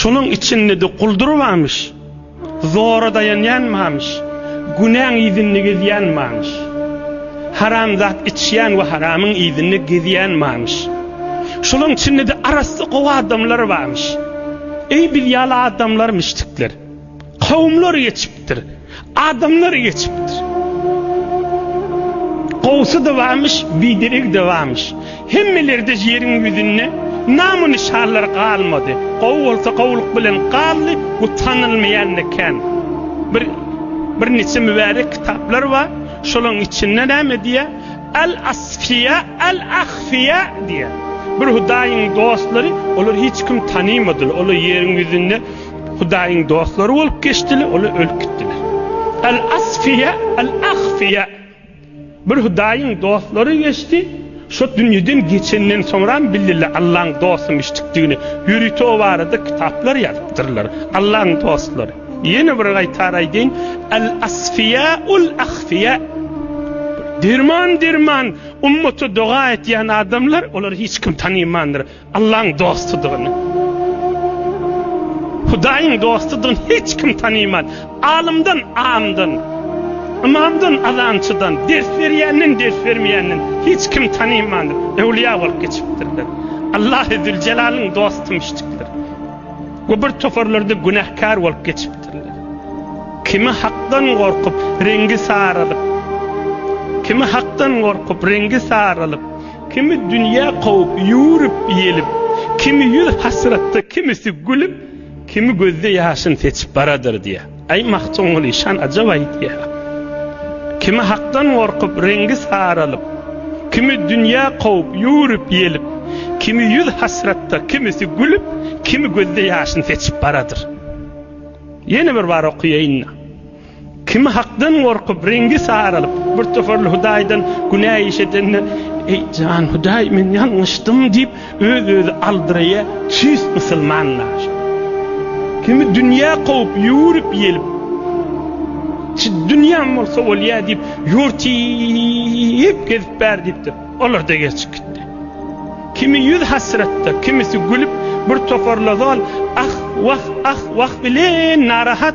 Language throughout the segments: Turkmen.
Şonuň içinde-de guldurbamyş, zora daýanýanmamyş, günäň yzynda gezýänmamyş. Haram zat içýän we haramyň yzynda gezýänmamyş. Şolaň içinde-de arassa gowy adamlar barmyş. Eý biz ýaly adamlarmyşdikler. Kowumlar geçipdir, adamlar geçipdir. Gowsy-da barmyş, bideregi-de barmyş. Hemmeleri-de ýeriň ýüzünde nam-o-nyşanlary galmady. Gowy bolsa gowulyk bilen galdy, bu tanalmaýan-da kän. Bir birniçe mübärek kitaplar bar, şolaryň içinde näme diýýär? Al-asfiýa, al-ahfiýa diýýär. Bir Hudaýyň dostlary, olary hiç kim tanymadylar, olar ýeriň ýüzünde. Hudaýyň dostlary bolup geçdiler, olar ölüp gitdiler. Al-Asfiýa, Al-Ahfiýa. Bir Hudaýyň dostlary geçdi, şu dünýeden geçenden soňram bildiler Allaň dostymyşdykdygyny. Ýörite o barada kitaplar ýazypdyrlar. Allaň dostlary. Ýene bir gaýtar aýdaýyn, Al-Asfiýa, Al-Ahfiýa. Derman-derman ummata doga etýän adamlar, olary hiç kim tanymandyr. Allaň dostudygyny, Hudaýyň dostudygyny hiç kim tanyman. Alymdan, amdan, ymamdan, azançydan, ders berýänden, ders bermeýänden hiç kim tanymandyr. Öwlüýa bolup geçipdirler. Allahy Züljelalyn dostum işdikdir. Gubur toparlarda günähkär bolup geçipdirler. Kimi hakdan gorkup, reňgi saralyp, kimi hakdan gorkup, reňgi saralyp, Kimi dünýä kowup, ýüwürip, ýelip, Kimi ýüz hasratda, kimisi gülüp, Kimi gözde ýaşyn seçip baradyr diýýär. Aý, Magtymguly şan ajap aýdýar. Kimi hakdan gorkup, reňgi saralyp, Kimi dünýä kowup, ýüwürip, ýelip, Kimi ýüz hasratda, kimisi gülüp, Kimi gözde ýaşyn seçip baradyr. Ýene bir bar okaýaýyn-da. Kim Hakdan gorkup, reňgi saralyp, birtoparly Hudaýdan günä iş edende, Eý, jan, Hudaý, men ýalňyşdym diýip, öz-özi aldyraýa, çüýst musulmanlaşar. Kimi dünýä kowup, ýüwürip-ýelip, Çi dünýäm bolsa bolýa diýip, ýurty gezip bär diýipdir. Olar-da geçip gitdi. Kimi ýüz hasratda, kimisi gülüp, birtoparly ozal ah-wah, ah-wah bilen narahat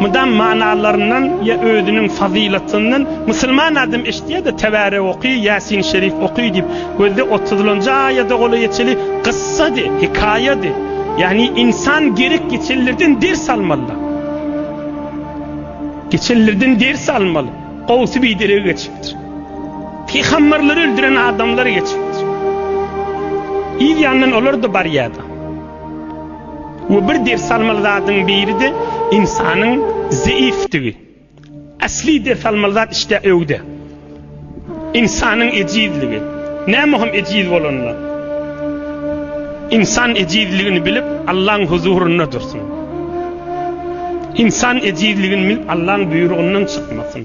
Mydam manalaryndan ýa özüniň fazylatyndan Musulman adam eşitýärde Tebärek oky, Ýasin Şerif oky diýip, gözde otuzlanjy aýada golaýeçeli gyssady, hekaýady. Ýagny insan gerek geçenlerden ders almalyda. Geçenlerden ders almaly. Gowsy bideregi geçipdir. Pygamberleri öldüren adamlar geçipdir. Yz ýandan olar-da barýardy. We bir ders almaly zadyň biride ynsanyň zeifdigi. Asli ders almaly zat işte öwde. Ynsanyň ejizligi. Näme hem ejiz bolanda? Ynsan ejizligini bilip Allaň huzurynda dursun. Ynsan ejizligini bilip Allaň buýrugyndan çykmasyn.